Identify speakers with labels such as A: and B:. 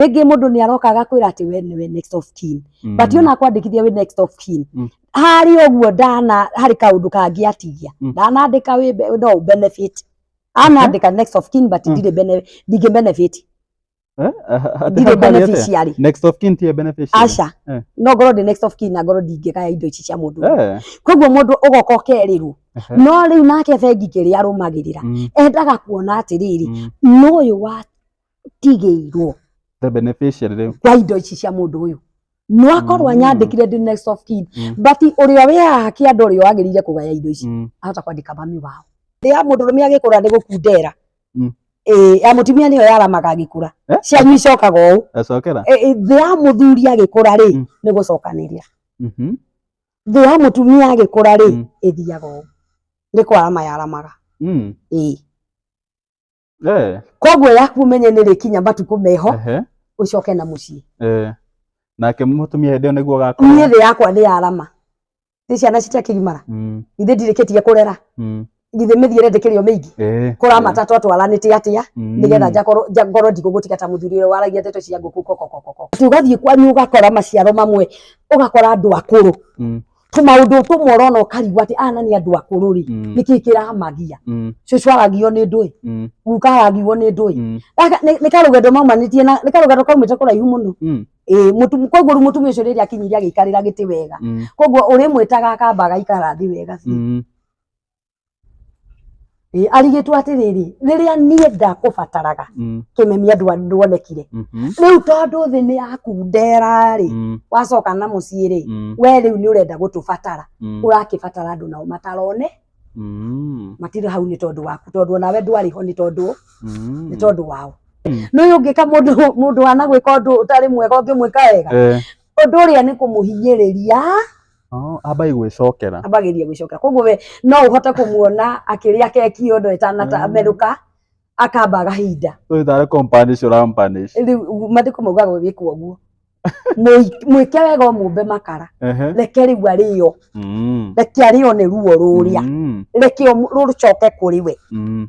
A: rĩngĩ mũndũ nĩ aroka agakwĩra atĩ we nĩwe next of kin Mm. but ona akwandĩkithia wĩ next of kin Mm. harĩ ũguo ndana harĩ kaũndũ kangĩatigia Mm. ndanandĩka wĩ be- no ũ benefit anandĩka next of kin but Mm. ndirĩ bene- ndingĩ benefit Eh? Ati ndirĩ hakari ate? beneficiary Next of kin tiye beneficiary. aca Eh. no ngorwo ndĩ next of kin na ngorwo ndingĩgaya indo ici cia mũndũ ũyũ. Eh. koguo mũndũ ũgoka ũkerirwo Ehe. no rĩu nake bengi kĩrĩa arũmagĩrĩra Mm. endaga kuona atĩrĩrĩ Mm. n'ũyũ wa tigĩirwo the beneficiary rĩu kwa indo ici cia mũndũ ũyũ no akorwo Mm. anyandĩkire ndĩ next of kin Mm. but ũrĩa wĩyaga kĩa andũ ũrĩa wagĩrĩire kũgaya indo ici Mm. ahota kwandĩka mami wao ya mũndũ rũme agĩkũra nĩ gũkundera Mm. Eh, ya mũtumia nĩyo yaramaga agĩkũra Eh? cianyu icokaga ũũ acokera Eh, eh, thĩ ya mũthuri agĩkũra rĩ Mm. nĩ gũcokanĩria Mhm. thĩ ya mũtumia agĩkũra rĩ Mm. ĩthiaga ũũ nĩ kwarama yaramaga Mm. ĩĩ Eh, koguo yaku ũmenye nĩ rĩkinya matukũ meho ehe, ũcoke na mũciĩ eh. nake mũtumia hĩndĩ ĩyo nĩguo niĩ gakorwo thĩ yakwa nĩ yarama nĩ ciana citakĩgimara Mm, githĩ ndirĩkĩtie kũrera mm, githĩ mĩthiĩre ndĩkĩrĩ o mĩingĩ eh, kũramata twatwaranĩte atĩa mm, nĩgetha njakorwo nja- ngorwo ndigũgũtiga ta mũthuri ũrĩa waragia ndeto cia ngũkũ kokokokoko atĩ ũgathiĩ kwanyu ũgakora maciaro mamwe ũgakora andũ akũrũ mm, tũmaũndũ tũmwe ũrona ũkarigwo atĩ ana nĩ andũ akũrũ rĩ Mm. nĩkĩ kĩramagia Mm. cũcũ aragio nĩ ndũĩ Mm. guka aragio nĩ ndũĩ Mm. Gaka nĩ nĩ karũgendo maumanĩtie na nĩ karũgendo kaumĩte kũraihu mũno Mm. ĩĩ mũtu- koguo rĩu mũtumia ũcio rĩrĩa akinyire agĩikarĩra gĩtĩ wega Mm. koguo ũrĩmwĩtaga akamba agaikara thĩ wega biũ Mm. Ĩ, arigĩtwo atĩrĩrĩ rĩrĩa niĩ ndakũbataraga Mm, kĩmemia ndwa- ndwonekire mhm, rĩu tondũ thĩ nĩ yakundera rĩ mm, wacoka na mũciĩ rĩ mm, we rĩu nĩ ũrenda gũtũbatara mm, ũrakĩbatara andũ nao matarone mm, matirĩ hau nĩ tondũ waku tondũ onawe ndwarĩ ho nĩ tondũ mm. nĩ tondũ wao Mm. nä å yå ngä ka må ndå må ndå wanagwä ka å ndå å tarä mwega å ngä mwä ka wega Eh, å ndå å rä a nä kå må hinyä rä ria Oh, ambai gwĩcokera ambagĩria gwĩcokera koguo we no ũhote kũmuona akĩrĩa keki ĩyo ndo ĩtanamerũka akamba gahinda ũyũ tarĩ companish ũrampanish rĩu mathiko maugaga gwĩkwo ũguo Mũi- mwĩke wega ũmũmbe makara Ehe. reke rĩu arĩo Mm. reke arĩo nĩ ruo rũrĩa Mm. reke ũmũ- rũcoke kũrĩ we Mm.